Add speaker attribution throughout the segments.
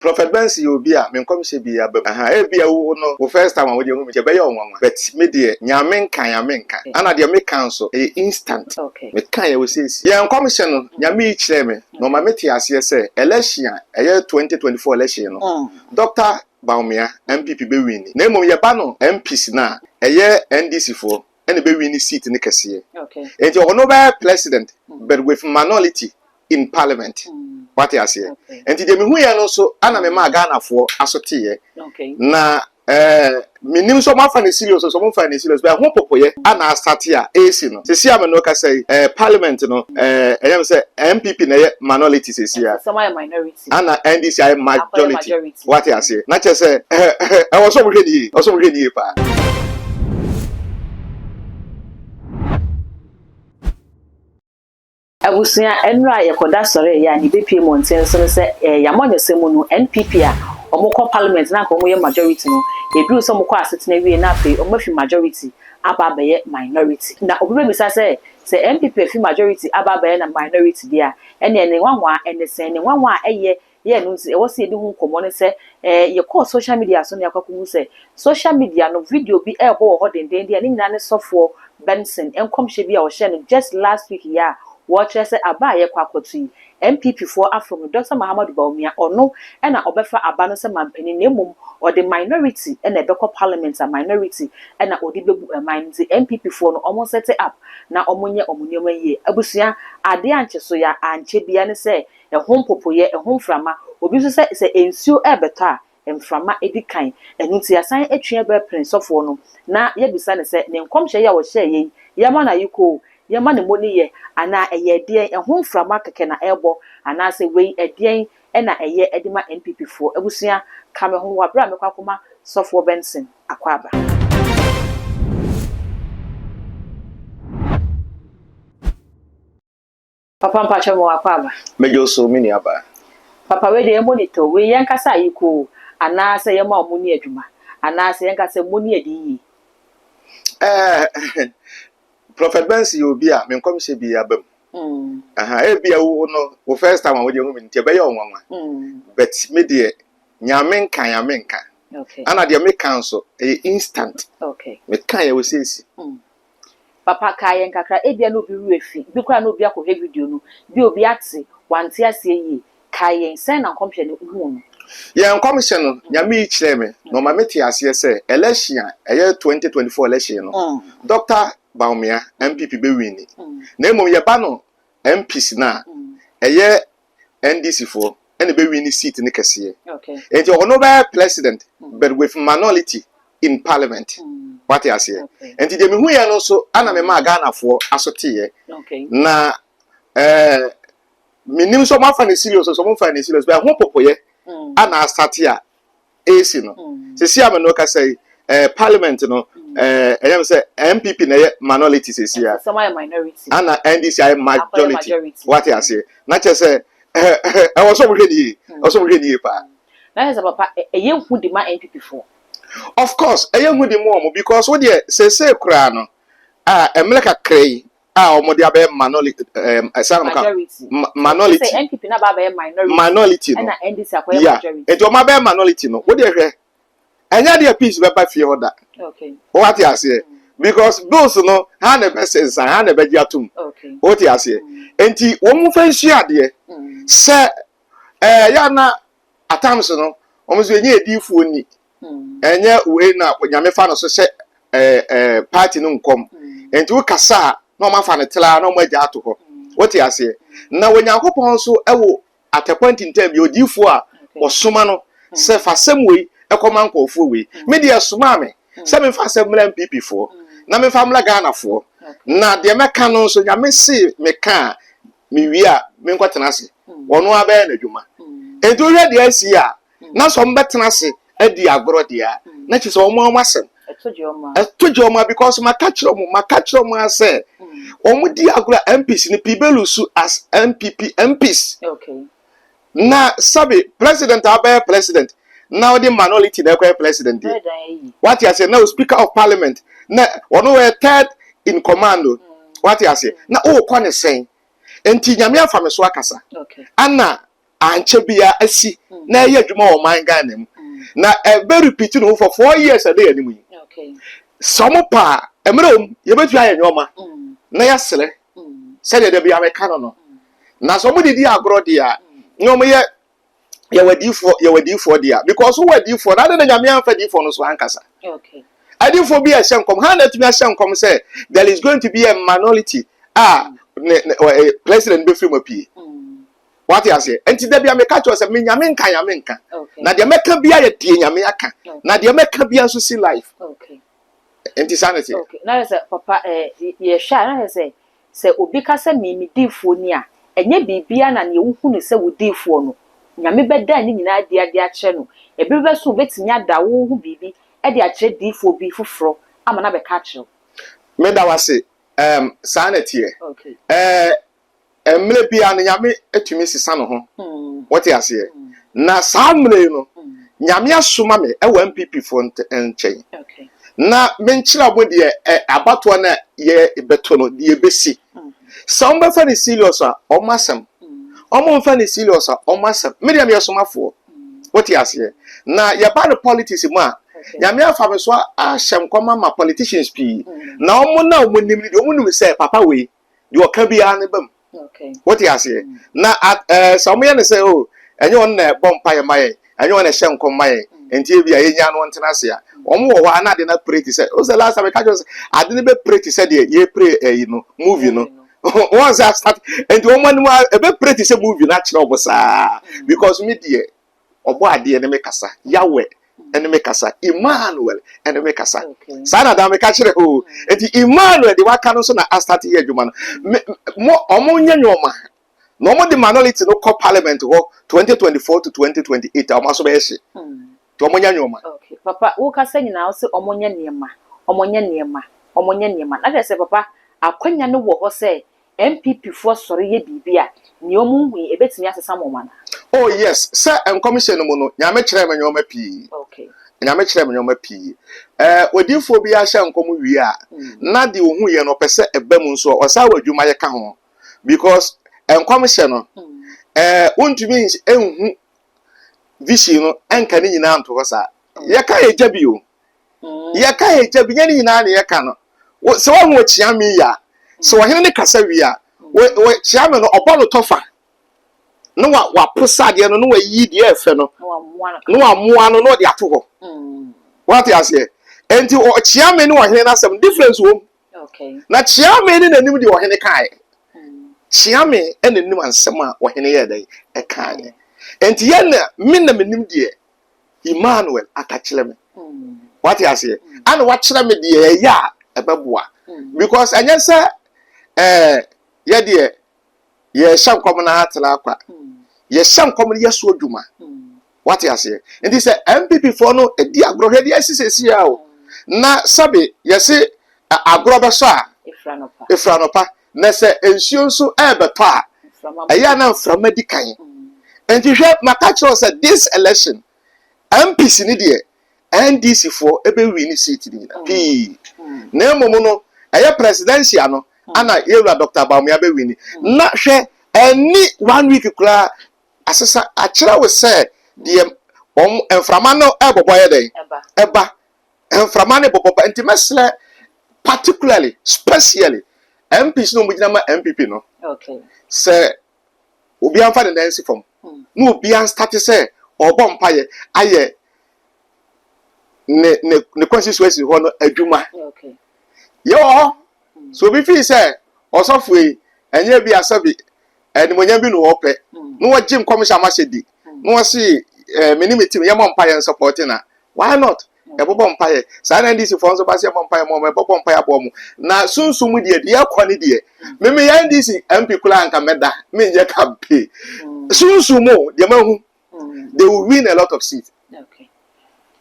Speaker 1: Prophet Benson yɛ obi a me nkɔmhyɛ bi aba mu ahaa ebia wo no wo first time a wode ahu me nti ɛbɛyɛ wo nwanwa but me deɛ nea me nka nea me nka ɛna deɛ me ka nso ɛyɛ instant me ka yɛ osesie yɛ nkɔmhyɛ no Nyame yi kyerɛɛ me na ɔma me te aseɛ sɛ election a ɛyɛ 2024 election no Doctor Bawumia MPP bɛ winni na mmom yɛba no MPs no a ɛyɛ NDC foɔ ɛna bɛwin ne seat no kɛseɛ nti ɔno bɛyɛ president but with minority in parliament wate aseɛ nti deɛ mehu yɛ no nso ana me maa Ghanafoɔ aso teeɛ na ɛɛ menim sɛ ɔmafa ne serious sɛ ɔmfa ne serious bɛ ho popoyɛ ana asate a ɛsi no sisi a me no kasa yi ɛɛ parliament no ɛɛ ɛyɛ me sɛ MPP na ɛyɛ minority sisi a
Speaker 2: Ana NDC ayɛ
Speaker 1: majority wate aseɛ na kyɛ sɛ ɛwɔ sɛ ɔmo hwɛ ne yie ɛwɔ sɛ ɔmo hwɛ ne yie paa.
Speaker 2: Abusua, ɛnura a yɛkɔda sɔre ɛyɛ a nea ebepue mmɔnten so ne sɛ ɛɛ Yamonyose mu no NPP a wɔn kɔ parliament na anka wɔn yɛ majority no eduru sɛ wɔn kɔ asetena wie na afei wɔn afi majority aba abɛyɛ minority na obi bɛbisa sɛ sɛ NPP afi majority aba abɛyɛ na minority deɛ a Ɛnneɛ ne nwanwa a ɛne sɛn? Ne nwanwa a ɛyɛ yɛ no nti ɛwɔ sɛ yɛdi ho nkɔmmɔ ne sɛ, eh, yɛkɔɔ social media so na yɛakɔ akɔhu sɛ social media no video bi ɛrebɔ wɔ hɔ dendeenden a ne nyinaa ne Sɔfoɔ Benson nkɔmhyɛ bi a ɔhyɛɛ no just last week yi a wɔrekyerɛ sɛ aba a yɛkɔ akɔto yi, NPP foɔ afom no Doctor Mahamadou Bawumia, ɔno na ɔbɛfa aba no sɛ manpanin na mmom ɔde minority na ɛbɛkɔ parliament a minority na ɔde bɛbu man no nti NPP foɔ no wɔn nsɛte up na wɔnyɛ wɔn nneɛma yie. Abusua, adeɛ a nkyɛ so yɛ ankyɛ biara ne sɛ ɛho mpopoeɛ, ɛho mframa, obi nso sɛ sɛ nsuo rebɛtɔ a, mframa di kan. Ɛno nti yɛasan atwi aba apene sɔfoɔ no na yɛabisa no sɛ, ne nkɔmhyɛ yi a ɔhyɛeɛ yi, yɛmma no ayiko o, yɛmma no mmɔ ne yɛ anaa ɛyɛ ɛdeɛn, ɛho mframa kɛkɛ na ɛrebɔ anaasɛ wei ɛdeɛn na ɛyɛ de ma NPP foɔ. Abusua ka me ho wɔ aberɛ a mɛkɔ akɔma Sɔfoɔ Benson akwaaba. Papa mpakyɛ mewɔ akwaaba. Medwo so me nua
Speaker 1: baa. Papa wei deɛ yɛ
Speaker 2: monitor wei yɛ nka sɛ ayi koo anaa sɛ yɛ ma ɔmo ni adwuma anaa sɛ yɛ nka sɛ mo ni adi yie. Ɛɛ
Speaker 1: Prophet Benson yɛ obi a me nkɔmhyɛ bi aba mu. Mm. Aha, ebi a wo no, wo first time a wode hu me nti ɛbɛyɛ ɔnwanwa. Mm. But me deɛ, nyame nka, nyame nka. Okay. Ana deɛ me ka nso, ɛyɛ instant. Okay. Me ka yɛ wo sɛsi. Mm.
Speaker 2: Papa ka yɛ nkakra, ebi a na obi werɛ fi, bi kora na obi akɔhwɛ video no, bi obi ate, wante aseɛ yie, Kae yɛn, sɛn na nkɔmhyɛ no huu no? Yɛn nkɔmhyɛ
Speaker 1: no, Nyame yi kyerɛɛ me na ɔma me tee aseɛ sɛ election a ɛyɛ 2024 election no, Dɔkta Bawumia, NPP, bɛ winni, na mmom yɛba no MPs no a, ɛyɛ NDC foɔ, ɛna bɛ winni seat no kɛseɛ. Enti ɔno bɛyɛ President but with minority in Parliament. Wate aseɛ? Enti deɛ mehuiɛ no nso, ɛna memaa Ghanafoɔ aso teeɛ, na ɛɛ. menim sɛ wɔafa no serious sɛ wɔmfa no serious bɛ ɛho popoyɛ ana asate a ɛresi no sisi a me no kasa yi eh, parliament no eh, ɛyɛ me sɛ mpp na ɛyɛ minority sisi a
Speaker 2: ana ndc ayɛ
Speaker 1: majority wate aseɛ na kyerɛ sɛ ɛwɔ sɛ wɔhwɛ ne yie ɛwɔ sɛ wɔhwɛ ne yie paa na yɛ sɛ papa
Speaker 2: ɛyɛ hu de ma npp foɔ of course
Speaker 1: ɛyɛ hu de ma wɔn because wo deɛ sɛsɛ koraa no a mmerɛ kakra yi a wɔde abɛyɛ minority ɛɛm ɛsan mu ka minority
Speaker 2: minority no ya nti wɔn abɛyɛ minority
Speaker 1: no wode hwɛ ɛnyɛ adeɛ peace bɛba fie hɔ da wɔate aseɛ mm. because bills no ha na ɛbɛsɛ nsan ha na ɛbɛgye atom wɔate aseɛ mm. nti wɔn mu fɛ nhyia adeɛ mm. sɛ ɛɛ yɛ ana atams no wɔn nso enye ediifoɔ ni. ɛnyɛ wei na nyame fa no so sɛ ɛɛ ɛɛ party no nkɔm nti wo kasa a na wɔn afa no traa na wɔn agya ato hɔ wote aseɛ na onyankopɔn nso ɛwɔ atɛkwa ntintan bi odiifoɔ a wɔsoma no sɛ fa sɛm wei ɛkɔma nkɔɔfoɔ wei me deɛ ɛsomaa me sɛ mefa sɛ mmra npp foɔ na mefa mmra Ghana foɔ na deɛ mɛka no nso nyame se meka a mewie a menkɔtena ase wɔn abɛyɛ n'adwuma nti wohwɛ deɛ asi a na sɛ wɔbɛtena ase adi agorɔ deɛ a na kyerɛ sɛ wɔn wɔn asɛm ɛto gye wɔn a because maka kyerɛ wɔn maka kyerɛ wɔn a sɛ wɔn di agorɔ a MPs no pii bɛlu su as MPP MPs na sɛbi president a ɔbɛyɛ president na ɔde minority na ɛkɔyɛ president deɛ wate aseɛ na o speaker of parliament na ɔno yɛ third in command o wate aseɛ na ɔrekɔ ne sɛn nti nyame afa me so akasa ana. ankyɛ biara asi na ɛyɛ adwuma wɔ ɔman Ghana mu. Na ɛbɛ repeat ne ho for four years a ɛda yɛn anim yi.
Speaker 2: Sɛ wɔn pɛ
Speaker 1: a, mmerɛ wɔm, yɛbɛtumi ayɛ nneɛma na yɛasrɛ sɛdeɛ da biara meka no no. Na sɛ wɔn de di agorɔ deɛ a, na wɔn yɛ yɛwɔ adiifoɔ yɛwɔ adiifoɔ deɛ a, because wowɔ adiifoɔ na ade na nyame anfa adiifoɔ no so ankasa.
Speaker 2: Adiifoɔ bi a ɛhyɛ
Speaker 1: nkɔm, ha na atumi ahyɛ nkɔm sɛ there is going to be a minority a ne, ne, eh, president bɛfiri mu apue. Wate aseɛ? Enti da bia meka kyerɛ sɛ me nyame nka nyame nka. Na deɛ mɛka bia yɛ deɛ nyame aka. Na deɛ mɛka bia nso si life.
Speaker 2: Enti saa na
Speaker 1: ɛteɛ. Okay. Na sɛ papa
Speaker 2: eh, yɛhwɛ a na sɛ sɛ obi ka sɛ me me diifoɔ ni a ɛnyɛ biribiara na neɛ wohu no sɛ wo diifoɔ no nyame bɛda ne nyinaa adi ade akyerɛ no ɛbere bɛso wobɛtumi ada wo ho biribi de akyerɛ diifoɔ bi foforɔ ama no abɛka akyerɛ wo meda wase
Speaker 1: um, saa na ɛteɛ okay.
Speaker 2: uh,
Speaker 1: Mmerɛ biara no Nyame tumi sesa ne ho, mote aseɛ? Na saa mmerɛ yi no, Nyame asoma me wɔ NPP foɔ nkyɛn na
Speaker 2: menkyerɛ
Speaker 1: wɔn deɛ abatoɔ no a yɛbɛto no, deɛ ɛbɛsi. Sɛ wɔbɛfa no serious a, wɔn asɛm. Wɔmmfa no serious a, wɔn asɛm. Me deɛ meyɛ somafoɔ, wote aseɛ? Na yɛba no politics mu a, Nyame afa me so ahyɛ nkɔm ama politicians pii. Na wɔn no a wɔnim no deɛ, wɔnim sɛ papa wei, deɛ ɔka biara ne ba mu wote aseɛ na sɛ ɔmoyɛ ne sɛ o oh, ɛnyɛ wɔn na ɛbɔ mpaeɛ ma yɛn ɛnyɛ wɔn na ɛhyɛ nkɔm ma yɛn nti ebi a yɛnya no ntena ase a wɔn wɔ hɔ a na ade no apere te sɛ o sɛ last time ɛka kyerɛ sɛ ade no bɛpere te sɛ deɛ yɛpere ɛyi no movie no wɔn sɛ asate nti wɔn anim a ɛbɛpere te sɛ movie no akyerɛ wɔn saa because me deɛ Ɔbɔadeɛ ne me kasa, Yahweh ne me kasa, Emmanuel ne me kasa. Saa na daa meka kyerɛ o. Enti Emmanuel de waka no nso na astate yɛ adwuma no. Me mo ɔmo nyɛ nneɛma na ɔmo de minority no kɔ parliament hɔ 2024 to 2028 a ɔmo aso bɛyɛ hye. Nti ɔmo nyɛ nneɛma. Okay papa wo kasa
Speaker 2: nyinaa wo se ɔmo nyɛ nneɛma, ɔmo nyɛ nneɛma, ɔmo nyɛ nneɛma. Na kyerɛ sɛ papa akwanya no wɔ hɔ sɛ NPPfoɔ sɔre yɛ biribi a, nea ɔmo nhu yi, ɛbɛtumi asesa mo anaa? Oh yes, sɛ
Speaker 1: nkɔmhyɛ no mu no, Nyame kyerɛɛ me nnoɔma pii. Okay. Nyame
Speaker 2: kyerɛɛ me nnoɔma
Speaker 1: pii. Eh, odiyifoɔ biara hyɛ nkɔm wie a, na deɛ ɔhuiɛ no ɔpɛ sɛ ɛba mu nso a, ɔsan wɔ adwumayɛ ka ho. Because nkɔmhyɛ no, eh, wontumi nhu vision no nka ne nyinaa nto hɔ saa. Yɛka yɛ gya bi o, yɛka hagya bi nyɛ ne nyinaa na yɛka no sɛ wahu ɔkyea me yi a sɛ ɔhene ne kasa wie a ɔkyea me no ɔbɔ no tɔfa na wapo sadeɛ no na wayi deɛ ɛfɛ no na wamoa no na ɔde ato hɔ mm. wate aseɛ nti ɔkyea me ne ɔhene no asɛm difference wom na kyea
Speaker 2: me ne
Speaker 1: n'anim deɛ ɔhene kaeɛ mm. kyea me ɛna anim ansɛm a ɔhene yɛ dɛn ɛkaeɛ nti yɛn na me na m'anim deɛ Emmanuel akakyerɛ me wate aseɛ ana wakyerɛ me deɛ ɛyɛ a ɛbɛboa because ɛnyɛ sɛ ɛɛ eh, yɛdeɛ yɛhyɛ nkɔm no atena akwa yɛhyɛ nkɔm no yɛso adwuma wate aseɛ nti sɛ mpp foɔ no ɛdi agorɔ hwɛ deɛ ɛsi sɛsi a o na sɛbe yɛse agorɔ bɛsɔ a efira nɔpa Na sɛ nsuo nso rebɛtɔ a, ɛyɛ a na mframa di kan. Nti hwɛ, maka kyerɛ wo sɛ this election, MPs no deɛ, NDC foɔ ɛbɛwii ne seat no nyina pii. Na mmom no, ɛyɛ presidential no ana yɛwura Doctor Bawumia bɛwii ni. Na hwɛ, ɛnni one week koraa asesa akyerɛ wo sɛ deɛ wɔn mframa no rebɔbɔ ayɛ dɛn? Ɛba. mframa ne bɔbɔ pa nti mɛsrɛ particularly specially MPs na wɔn gyina ma NPP no sɛ obi anfa ne nan nsi fam hmm. na obi anstate sɛ ɔbɔ mpaeɛ ayɛ ne ne ne constituency hɔ no adwuma
Speaker 2: yɛ wɔ hɔ
Speaker 1: hmm. so obi fi sɛ ɔsɔfo yi ɛnyɛ bi asɛbi ɛnumonyam bi na ɔpɛ hmm. na wɔgye nkɔmhyɛ amahyɛ di na wɔsi ɛɛ me ne me team yɛmmɔ mpaeɛ nsɔpɔte na why not yɛbɔbɔ mpaeɛ saa na ndc foɔ nso ba sɛ yɛmmɔ mpaeɛ mɔ yɛbɔbɔ mpaeɛ aboɔ mo na sunsun mu deɛ deɛ ɛkɔ ne deɛ meme yɛ ndc mp koraa nka mɛda menyɛ kampe sunsun mu deɛ mahu they will win a lot of seats.
Speaker 2: Okay.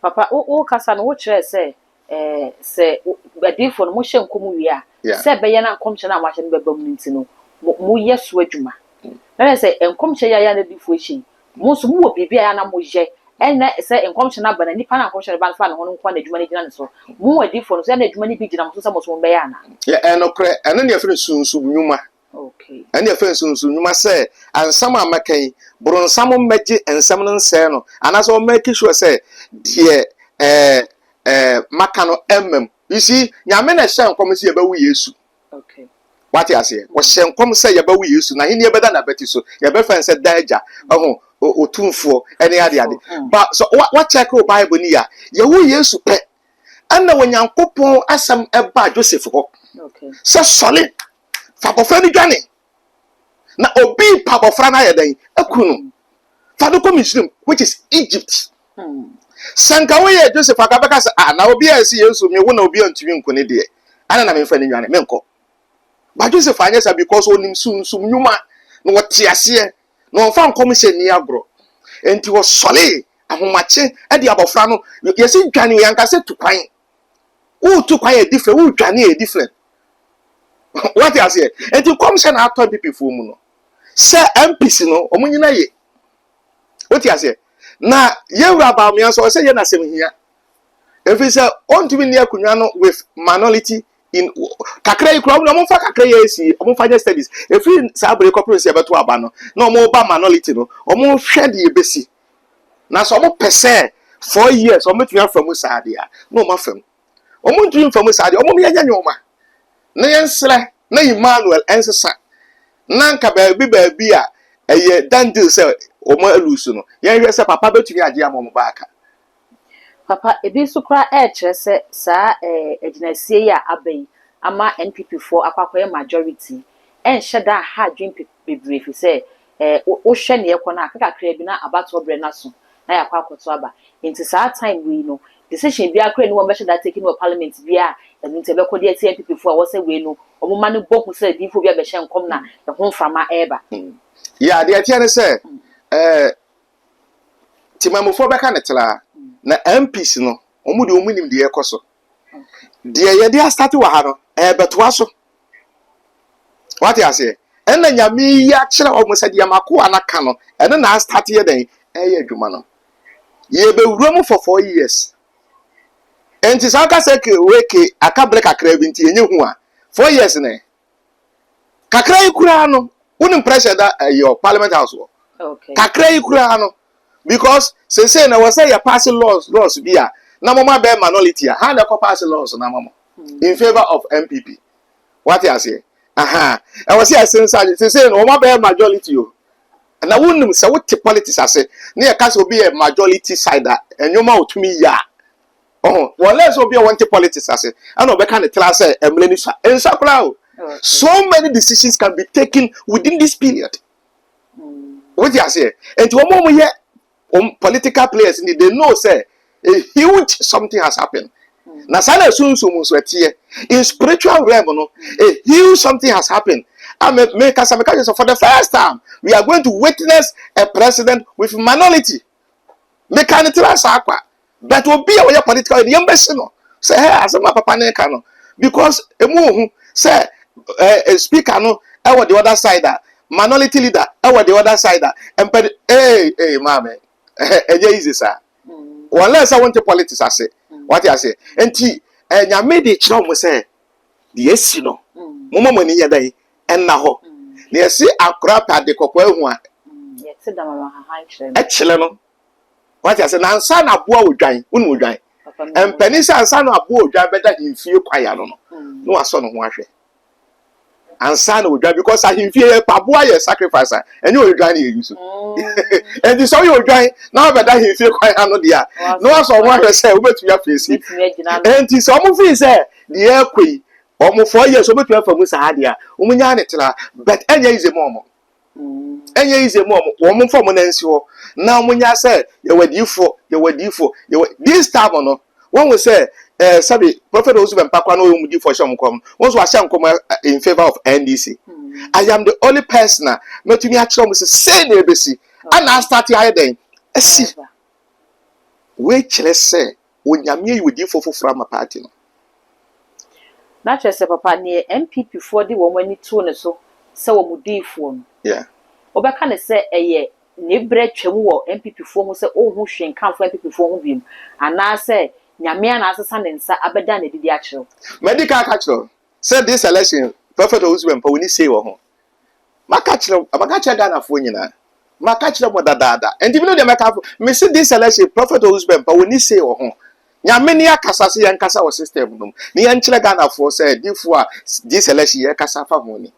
Speaker 2: Papa, wo kasa no wo kyerɛ sɛ eh, sɛ adiyifoɔ no mohyɛ nkɔm wie a, sɛ ɛbɛyɛ na nkɔmhyɛ no a moahyɛ no bɛba mu no nti no, mo moyɛ so adwuma. Mm. Na yɛ sɛ nkɔmhyɛ yɛ ayɛ na adiyifoɔ ahyɛ yi, mo nso mowɔ biribi a yɛ na moyɛ ɛnna sɛ nkɔmhyɛ no aba na nipa no a nkɔmhyɛ no ba no fa ne ho no nko na adwuma no gyina ne so mo adiyifoɔ no so ɛnna adwuma no bi gyina mo so sɛ
Speaker 1: mo
Speaker 2: so mobɛyɛ
Speaker 1: anaa.
Speaker 2: Yɛ ɛnokorɛ
Speaker 1: ɛno
Speaker 2: ne yɛfrɛ no sunsum nnwuma. Ɛnneɛ fa nsi wo
Speaker 1: so nnwuma sɛ nsɛm a mɛka yi, boronsam mmɛgye nsɛm no nsɛe no, anaasɛ ɔmmɛki sure sɛ deɛ ɛɛ ɛɛ maka no mma mu. You see, Nyame na ɛhyɛɛ nkɔm sɛ yɛbɛwo Yesu.
Speaker 2: Wate aseɛ?
Speaker 1: Wɔhyɛɛ nkɔm sɛ yɛbɛwo Yesu, n'ahennie bɛda n'abati so, yɛbɛfrɛ no sɛ Daa Agya, ɛho, Otumfoɔ, ɛne ade ade. Ba, sɛ wa, wa check wo Bible no yie a, yɛwo Yesu pɛ, ɛnna Onyankopɔn asɛm ɛbaa Joseph hɔ sɛ
Speaker 2: sɔre
Speaker 1: Fa abɔfra no dwane, na obi pa abɔfra no ayɛ dɛn? Aku no. Fa no kɔ Misraim, which is Egypt. Sɛ nka woyɛ Joseph anka bɛka sɛ, ah, na obi a ɛsi Yesu me wo na obi antumi nku ne deɛ, ana na memfa ne nwane, menkɔ. Ba Joseph anyɛ saa because onim sunsum nnwuma na wɔte aseɛ na wɔmfa nkɔm hyɛ ni agorɔ. Enti wɔsɔlee ahomakye de abɔfra no, yɛsi dwane, yɛanka sɛ tu kwan. wotu kwa yɛ different wodwane yɛ different wate aseɛ nti nkɔmhyɛ na atɔ dipifoɔ mu no sɛ mpc no wɔn nyina ye wote aseɛ na yɛwura baamea nso ɔsɛ yɛ n'asɛm hia ɛfiri sɛ ɔntumi nni akonnwa no with minority in kakra yi kura wɔn fa kakra yi asi wɔn fa nyɛ studies ɛfiri saa abere kɔpere sɛ yɛbɛto aba no na wɔn ba minority no wɔn hwɛ de yɛbɛsi Na sɛ wɔn pɛ sɛ four years wɔn betumi afa mu saa deɛ a, na wɔn afa mu. Wɔn ntumi nfa mu saa deɛ, wɔn yɛnyɛ nneɛma na yɛnsrɛ na Emmanuel ɛnsesa. Na nka baabi baabi a ɛyɛ done deal sɛ wɔn alusu no, yɛnhwɛ sɛ papa betumi agye ama wɔn baaka. Papa,
Speaker 2: ebi nso koraa rekyerɛ sɛ saa agyinasie yi a aba yi ama NPP foɔ akɔ akɔyɛ majority ɛnhyɛ da nha adwene pe bebree ɛfiri sɛ wo wohwɛ nea ɛrekɔ no a kakakraa bi na abatoɔ berɛ no aso na yɛakɔ akɔto aba. Nti saa time wei no decision biara koraa nni hɔ a wɔbɛhyɛ da take no wɔ parliament biara a ɛno nti ɛbɛkɔ de atia NPP foɔ a ɛwɔ sɛ wei no wɔn mma no bɔ hu sɛ adiyifoɔ bi abɛhyɛ nkɔm na ɛho mframa reba. Yeah, deɛ
Speaker 1: ɛteɛ ne sɛ eh, Temanmufoɔ bɛka no traa na MPs no wɔn deɛ wɔn nim deɛ ɛkɔ so. Deɛ yɛde asate wɔ ha no ɛbɛtoa so. Wate aseɛ? Ɛna nyame yi akyerɛ wɔn sɛ deɛ makoa no aka no ɛno na astate yɛ dɛn ɛyɛ adwuma no. Yɛbɛwura mu for four years. Nti saa ka sɛ weke aka berɛ kakra bi nti ɛnyɛ hu a four years ne kakra yi koraa no wonim pressure da eh, your parliament house wɔ okay. kakra
Speaker 2: yi koraa no
Speaker 1: because sese na wɔsɛ yɛ pass laws laws bi a na mɔmɔ abɛɛ minority a ha na ɛkɔ pass laws na mɔmɔ hmm. in favour of npp wate aseɛ aha ɛwɔ sɛ ɛsensa sese na wɔn abɛɛ majority o na wonim sɛ wote politics ase ne yɛka sɛ obi yɛ majority side a ɛnwoma otumi yɛ a ɔho wɔ lɛ sɛ obi a wɔnte politics ase ɛna ɔbɛka ne tra sɛ ɛmmerɛ ni sa nsa koraa o so many decisions can be taken within this period wọ́n ti aseɛ nti wɔn a wɔn yɛ wɔn political players ni they know sɛ a huge something has happened na saa na esunsum nso ɛteɛ in spiritual realm no a huge something has happened and me me kasa me kasa for the first time we are going to witness a president with minority me ka ne tira saa kwa But obi a ɔyɛ political de yɛn bɛsi no sɛ hɛ asɛm a papa no ka no because emu ohu sɛ ɛɛ speaker no ɛwɔ the other side a minority leader ɛwɔ the other side a mpɛde ee ee maame ɛhɛ ɛnyɛ easy saa wɔn lɛ sɛ wɔn te politics ase wɔte ase nti ɛnyame de kyerɛ wɔn sɛ deɛ esi no mo mo mo ani yɛ dɛ ɛnna hɔ na yɛsi akora pɛ ade kɔkɔɔ ehu a
Speaker 2: ɛkyerɛ no
Speaker 1: wate ase na ansa na aboa odwan wonu odwan mpanin sɛ ansa na aboa odwan bɛda ahemfie kwan ano no mm. na wasɔ ne ho ahwɛ ansa na odwan because ahemfie yɛ aboa yɛ sacrifice a ɛnyɛ odwan na yɛyi so ɛnti mm. sɛ woyɛ odwan na wabɛda ahemfie kwan ano deɛ a na wasɔ ho ahwɛ sɛ wobɛtumi afeesi ɛnti sɛ ɔmo fii sɛ deɛ ɛkɔ yi ɔmo fɔ yɛ sɛ wobɛtumi afa mu saa deɛ a ɔmo nyaa ne tra but ɛnyɛ yize ma ɔmo ɛnyɛ yize mu ɔmo wɔn mfa ɔmo nan nsi hɔ na ɔmo nya sɛ yɛwɔ adiifoɔ yɛwɔ adiifoɔ yɛwɔ this time no wɔn ho sɛ ɛɛ eh, sɛbi prɔfɛt ɔwɔ sɛ mpa kora na ɔyɛ ɔmo diifoɔ hyɛ ɔmo kɔm wɔn nso ahyɛ nkɔm eh, eh, in favour of NDC mm. I am the only person a mɛtumi akyerɛ ɔmo sɛ sɛɛ na ebesi ɛna asate ayɛ dɛn ɛsi wei kyerɛ sɛ Onyame ayi odiyifoɔ foforɔ ama party no.
Speaker 2: Na kyerɛ sɛ papa neɛ NPP foɔ de wɔn ani too ne so sɛ wɔn diyifoɔ no, Yeah. wobɛka
Speaker 1: no sɛ
Speaker 2: ɛyɛ ne berɛ twam wɔ NPP foɔ ho sɛ ɔnhu hwee nkamfo NPP foɔ ho biom anaa sɛ Nyame ara na asesa ne nsa abɛda no adi de akyerɛ wo? Madi
Speaker 1: kan aka akyerɛ wo sɛ this election Prophet Owusu-Bempah ɔnni say wɔ
Speaker 2: ho.
Speaker 1: Maka kyerɛ wo, maka kyerɛ Ghanafoɔ nyinaa. Maka kyerɛ mo dadaada. Nti me no deɛ mɛka afo. Me se this election, Prophet Owusu Bɛmpa, wɔni say wɔ ho. Nyame ne akasa se yɛn kasa wɔ system no mu. Ne yɛn kyerɛ Ghanafoɔ sɛ difoɔ a this election yɛ kasa afa ho ni.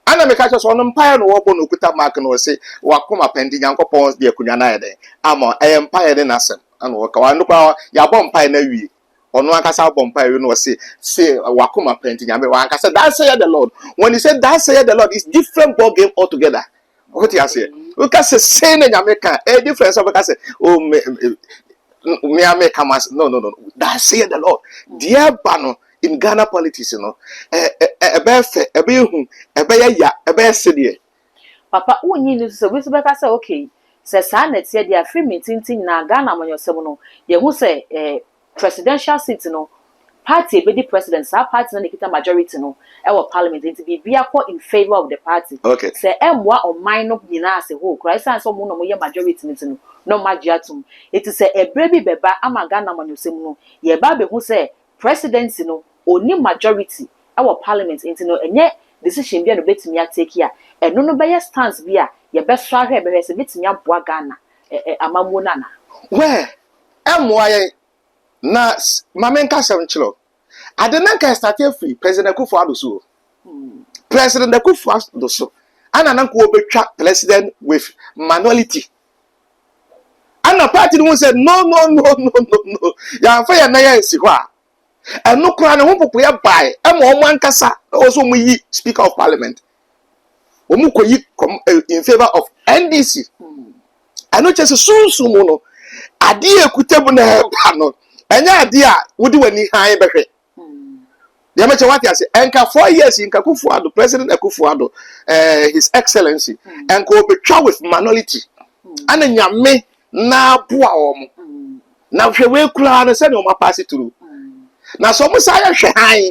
Speaker 1: Ana meka kyerɛ sɛ ɔno mpaeɛ na ɔbɔ na ɔkuta mark na ɔse wakoma pɛ nti Nyankopɔn de akonnwa no ayɛ dɛn ama ɛyɛ mpaeɛ ne n'asɛm ana ɔka. Ɔno koraa yɛabɔ mpaeɛ no awie. ɔno ankasa bɔ mpae wie no ɔse se wakoma pɛ nti nyame wanka sɛ that said the lord when he said that said the lord is different ball game altogether wote aseɛ woka sɛ sei na nyame ka ɛyɛ different sɛ wobɛka sɛ oh me me a meka mas no no no that said the lord deɛ ba no in ghana politics no ɛbɛyɛ fɛ ɛbɛyɛ hu ɛbɛyɛ ya ɛbɛyɛ sedeɛ Papa
Speaker 2: wonyi nni so sɛ obi nso bɛka sɛ okay, sɛ saa na ɛteɛ deɛ a firi mintinti nyinaa Ghana amanyɔsɛm no yɛhu sɛ eh, presidential seat no party a ɛbɛdi president saa party no na ɛkita majority no wɔ parliament nti biribiara kɔ in favour of the party Okay. sɛ ɛmmoa
Speaker 1: ɔman
Speaker 2: no nyinaa as a whole koraa ɛsiane sɛ wɔn na wɔyɛ majority no nti no na wɔagye atom. Enti sɛ ɛberɛ bi bɛba ama Ghana amanyɔsɛm no yɛreba abɛhu sɛ Presidency no ɔnni majority wɔ parliament nti no ɛnyɛ decision bi a na ɔbɛtumi a take a ɛno no bɛyɛ stance bi a yɛbɛsɔ ahwɛ bɛhwɛ sɛ ɛbɛtumi aboa Ghana amammuo no anaa. Well,
Speaker 1: ɛmmoa yɛn. Na ma me nka asɛm nkyerɛ wo. Ade no anka ɛ starte afiri President Akuffo Addo so o. President Akuffo Addo so ɛna na anka wɔbɛtwa President with manuality. ana party no ho sɛ no no no no no no yɛamfa yɛn nan ansi hɔ a ɛno koraa ne ho popoeɛ bae ɛma wɔn ankasa na wɔn nso wɔyi speaker of parliament wɔn kɔyi eh, in favour of ndc ɛno kyɛ sɛ sunsun mu no adeɛ ekuta mu na ɛba no ɛnyɛ adeɛ a wode w'ani han bɛhwɛ. deɛ mɛkyɛ wate ase ɛnka four years nka Akufo Addo president Akufo Addo ɛɛ eh, his excellency ɛnka mm. obetwa with minority ɛna mm. nyame n'aboa wɔn mm. na hwɛ wei koraa no sɛdeɛ wɔn apaase turu na sɛ wɔn san yɛhwɛ han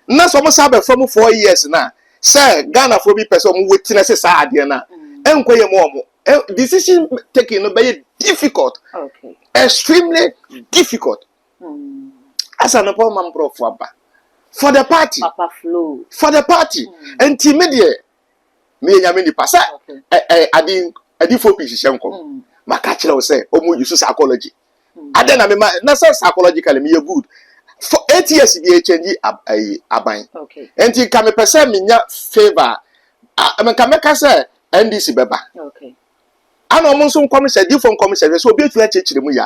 Speaker 1: na sɛ wɔn san bɛfa mu four years na sɛ ghanafoɔ bi pɛ sɛ wɔn wɔ tena sɛ saa adeɛ na ɛnkɔ yɛ mu wɔn decision taking no bɛyɛ difficult
Speaker 2: extremely
Speaker 1: difficult. Asa no pɔn ma nkurɔfo aba. For the party. Papa flow. For
Speaker 2: the party. Mm.
Speaker 1: Nti me deɛ meyɛ nyame nipa sɛ ɛ ɛ adi adifo pii hyehyɛ nkɔm. Mm. Maka kyerɛ wo sɛ wɔn use psychology. Mm. Adɛ na mema na sɛ psychologically meyɛ good. For eight years bi ɛkyɛngyi ab ayi aban. Okay. Nti
Speaker 2: nka mepɛ sɛ
Speaker 1: menya favour a nka mɛka sɛ NDC bɛba. Okay.
Speaker 2: ana wɔn
Speaker 1: nso nkɔmhyɛ difoɔ nkɔmhyɛ hwɛ sɛ obi atumi akyerɛkyerɛ mu yɛ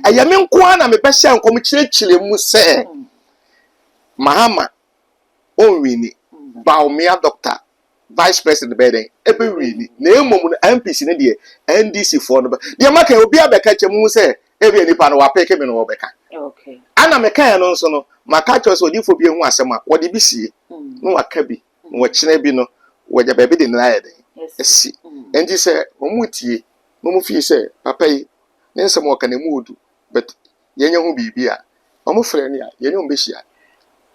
Speaker 1: a ɛyɛ me nko ara na mebɛhyɛ nkɔm kyerɛkyerɛ mu sɛ mahama ɔnwini baomea dɔkta vice president bɛyɛ dɛn ɛbɛwini na mmom no mpc no deɛ ndc foɔ no bɛ deɛ maka yɛ obi abɛka kyɛ mu sɛ ebi nipa no wapeke me no wɔbɛka ana
Speaker 2: meka yɛ no
Speaker 1: nso no maka kyerɛ sɛ odifoɔ bi ehu asɛm a wɔde bi sie na waka bi wɔkyena bi no wɔgya baabi de nea ayɛ den asi nti sɛ wɔtie na wɔn fie sɛ papa yi ne nsɛm ɔka no ɛmu ɔdu but yɛnyɛ ho biribi a wɔn frɛ no a yɛne wɔn bɛhyia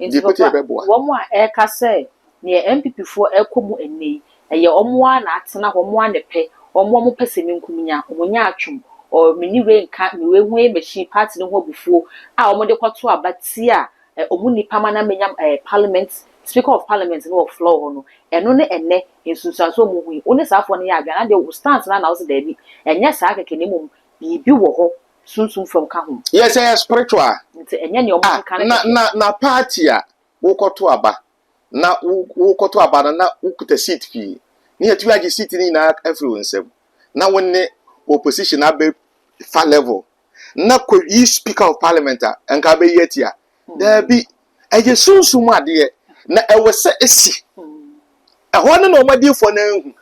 Speaker 1: nti
Speaker 2: papa wɔn a ɛka sɛ nea NPP foɔ ɛkɔ mu ɛnɛ yi ɛyɛ wɔn ara na atena hɔ wɔn ara na ɛpɛ wɔn wɔn pɛ sɛ menkum nya wɔn nya atwom or mene wei nka me wei ho ɛyɛ machine party no ho abufuo a wɔn de kɔto aba tia Ɛ, ɔmu nnipa ma na menya m, ɛ, parliament, speaker of parliament no wɔ floor hɔ no, ɛno ne ɛnnɛ nsunsuansoɔ a mohu yi. Wo ne saa foɔ no yɛ adwene a, na deɛ wo stance no ara na wose daabi. Ɛnyɛ saa kɛkɛ na mmom biribi wɔ hɔ sunsum fam ka ho. Yes, ɛyɛ spiritual.
Speaker 1: Nti ɛnyɛ nea wɔn keka
Speaker 2: no kɛkɛ. Ah, na, na, na party
Speaker 1: a wokɔto aba, na wo, wokɔto aba no na wokuta seat pii, na yɛatumi agye seat no nyinaa afiri wo nsam, na wo ne opposition abɛ fa level, na kɔyi speaker of parliament a nka abɛyi atia daabi ɛyɛ sunsum adeɛ na ɛwɔ sɛ ɛsi ɛhɔ no na wɔn adiifoɔ no ahu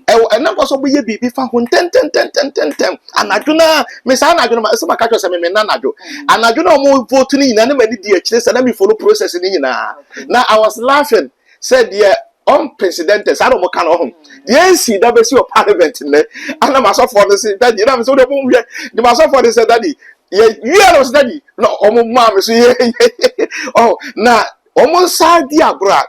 Speaker 1: ɛwɔ
Speaker 2: ɛna nkɔ so bɛyɛ
Speaker 1: biribi fa ho ntɛntɛntɛntɛntɛm anadwo no a me saa anadwo no ma ɛsɛ maka kyerɛ sɛ meme na anadwo anadwo no a wɔn vote no nyinaa ne ma ne di akyire sɛ na me follow process no nyinaa na I was laughing sɛ deɛ ɔmpresidente saa na ɔmo ka no ɔho deɛ esi da besi wɔ parliament nnɛ anam asɔfoɔ no se dadi nam sɛ wode ɔmo nhwɛ de ma asɔfoɔ no sɛ dadi yɛ wia no sɛ dadi na ɔmo maa me so yɛ ɔho na ɔmo nsa di agorɔ a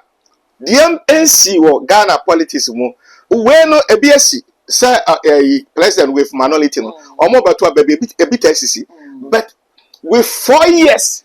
Speaker 1: deɛ ensi wɔ Ghana politics mu wei no ebi esi sɛ ɛyi president with manolity no ɔmo bɛto aba bi ebi ebi ta esisi but with four years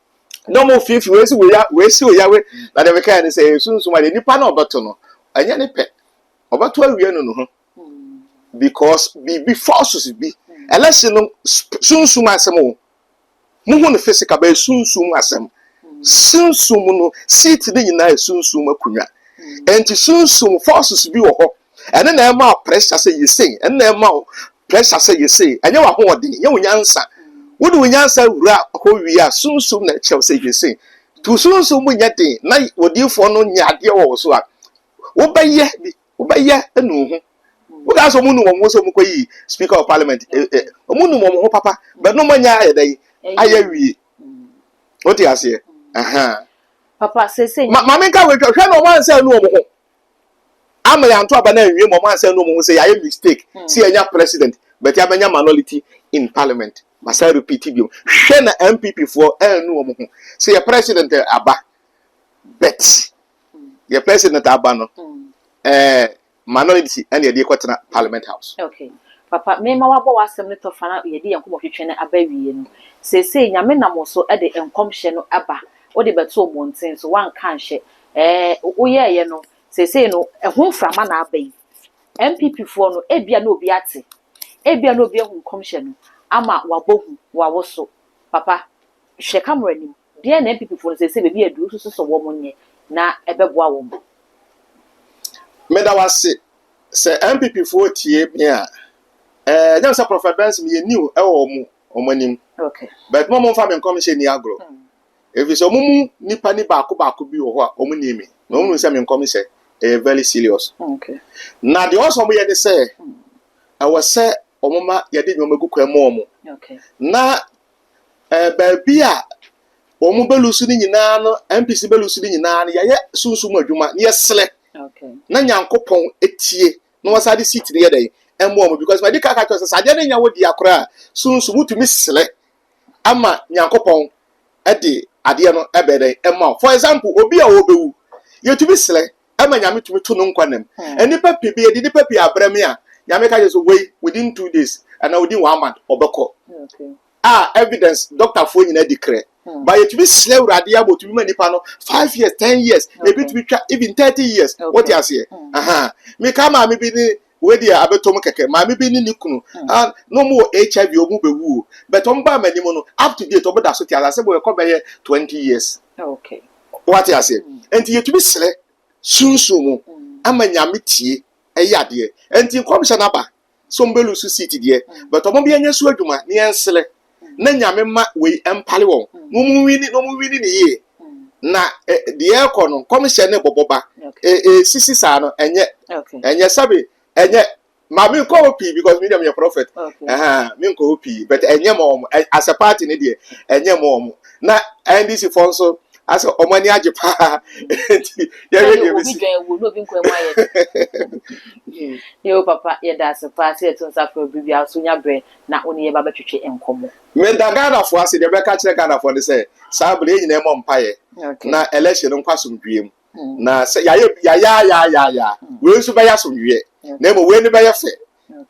Speaker 1: na wɔn fiifi wɔasi wɔya wɔasi wɔyawe na deɛ mekaeɛ no sɛ ɛyɛ sunsum adeɛ nipa na ɔbɛto no ɛnyɛ ne pɛ ɔbɛto awie no no ho because biribi forces bi election no sunsum asɛm o muhu no physical bɛyɛ sunsum asɛm sunsum no seat ne nyinaa yɛ sunsum akonnwa nti sunsum forces bi wɔ hɔ ɛno na ɛma wo pressure sɛ yɛ sei ɛno na ɛma wo pressure sɛ yɛ sei ɛnyɛ w'ahoɔden ɛnyɛ wo nyansa wode wo nyansa wura hɔ wie a sunsum na ɛkyerɛ wo sɛ yɛ sei to sunsum mu nyɛ den na odiifoɔ no nyɛ adeɛ wɔ wo so a wobɛyɛ bi wobɛyɛ anu ho wokaa sɛ ɔmu nu wɔn ho sɛ ɔmu kɔ yi speaker of parliament ɔmu eh, eh, nu wɔn ho papa bɛnom anya ayɛ dɛ yi ayɛ wie wote aseɛ ɛhɛn papa sese ma ma menka wei hwɛ hwɛ na ɔmo ansɛ anu wɔn ho ama yɛn anto aba no anwie ma ɔmo ansa nu ɔmo ho sɛ yɛayɛ mistake hmm. sɛ yɛanya president but yɛabɛnya minority in parliament masa repeat bio hwɛ na npp foɔ annu ɔmo ho sɛ yɛ president aba but hmm. yɛ president aba no hmm. ɛɛ eh, minority ɛna yɛde kɔtena parliament house. Okay. papa mema wabɔ w'asɛm no tɔfa na yɛde yɛn nkɔmmɔ twetwe no aba wie no seesei nyame nam so de nkɔmhyɛ no aba wode bɛtoo mmɔnten so woanka nhyɛ Ɛɛ woyɛeɛ no, seesei no ɛho mframa na aba yi. NPP foɔ no ebia na obi ate, ebia na obi ahu nkɔmhyɛ no ama wabɔ hu wɔ awoso. Papa, hwɛ camera nim, deɛn na NPP foɔ no seesei baabi aduru wosusu sɛ wɔn nyɛ na ɛbɛboa wɔn? Meda wo ase. Sɛ NPP foɔ tie me a, ɛɛ ɛnyɛ me sɛ Prophet Benson meyɛ new ɛwɔ wɔn anim, but mo a mo mfa me nkɔmhyɛ nni agorɔ. Efisɛ wɔn mu nnipa ni baako baako bi wɔ hɔ a wɔn nim me, na wɔn nim sɛ me nkɔm sɛ ɛyɛ very serious. Na deɛ wɔn sɛ wɔn yɛ ne sɛ ɛwɔ sɛ wɔn ma yɛde nneɛma gu kwan mu wɔn. Na ɛɛ baabi a wɔn bɛlu so ne nyinaa no, MPC bɛlu so ne nyinaa no, yɛyɛ sunsun mu adwuma na yɛsrɛ na Nyankopɔn etie na wɔsan de seat no yɛ dɛ ɛmo wɔn because ma yɛde kaa kaa kyerɛ sɛ sɛ adeɛ no nyɛ wo dea koraa sunsun wotumi srɛ ama Nyankopɔn de adeɛ no bɛyɛ dɛn ɛma wo. For example, obi a ɔbɛwu, yɛtumi srɛ ɛma Nyame tumi to no nkwa nna mu. Hmm. Nnipa pii bi, yɛde nnipa pii abrɛ me a, Nyame ka kyerɛ so wei within two days, anaa within one month, ɔbɛkɔ. Okay. A evidence, dɔktafoɔ nyinaa di krɛ. Hmm. Ba yɛtumi srɛ awurade ama ɔtumi ma nipa no five years ten years ebi tumi twa even thirty years wote aseɛ hmm. meka maame bi ne Wei deɛ abɛtɔ mu kɛkɛ. Maame bi ne ne kunu a na wɔwɔ HIV a wɔbɛwuo but wɔbaa m'anim no up to date wɔda so te ase. Asɛm bɛkɔ bɛyɛ twenty years. Woate aseɛ? Enti yɛtumi srɛ sunsum mu ama Nyame tie yɛ adeɛ. Enti nkɔmhyɛ no aba sɛ wɔbɛlusu seat deɛ but wɔmma yɛnyɛ so adwuma na yɛnsrɛ. na nyame ma wei mpale wɔn na wɔn wini na wɔn wini ne yie na deɛ ɛkɔ no nkɔmhyɛ ne bɔbɔ ba ɛsisi saa no ɛnyɛ ɛnyɛ sɛbe ɛnyɛ ma mi nkɔ hɔ pii because mi deɛ mi yɛ prophet ɛhɛn mi nkɔ hɔ pii but ɛnyɛ ma wɔn as a party ne deɛ ɛnyɛ ma wɔn na ndc fɔ nso asɛ wɔn ani agye paa nti yɛhwɛ deɛ bɛsi. obi dwan ewu na obi nkwa mu ayɛ de. yɛ o papa yɛda ase paa sɛ yɛto nsa fɛ obi bi a nso nya brɛ na wo ne yɛn ba bɛtwetwe nkɔmmɔ. Meda Ghanafoɔ ase, deɛ mɛka akyerɛ Ghanafoɔ ne sɛ, saa berɛ yi yɛn nyinaa mmɔ mpaeɛ na election no nkɔ asomdwoeɛ mu. Na sɛ yɛayɛ bi a, yayaayaaya, wei nso bɛyɛ asomdwoeɛ, na mmom wei no bɛyɛ fɛ,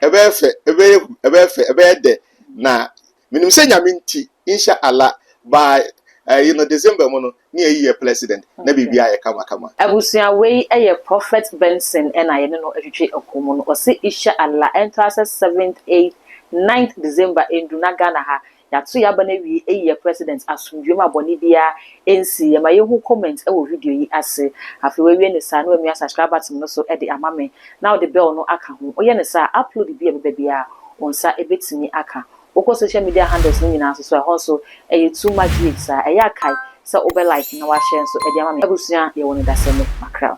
Speaker 1: ɛbɛyɛ fɛ, ɛbɛyɛ hu, ɛbɛyɛ fɛ, ɛbɛyɛ dɛ, na menim sɛ Nyame nti, Insha Allah, by ɛyi no December mu no, ne ayi yɛ plɛsident na biribiaa yɛ kama kama. Abusua wei yɛ Prophet Benson na yɛne no twetwe ɛko mu no ɔse Isha Allah ɛntaa sɛ seventh, eighth, ninth December ɛndu na Ghana ha yɛato yɛ aba no awie ayi yɛ plɛsident asomdwoe mu a bɔne biaa ɛnsi yɛ ma yɛnhu comment wɔ video yi ase afei wawie ne saa na wamia subscribe button no so de ama me na wode bell no aka ho woyɛ ne saa a upload bi a ɛbɛba biaa wo nsa bɛtumi aka Wokɔ social media handles no nyinaa so so a ɛhɔ nso ɛyɛ too much rich saa. Ɛyɛ a kae sɛ wobɛ like na w'ashare nso de ama me. Abusua yɛwɔ no da sɛne makra.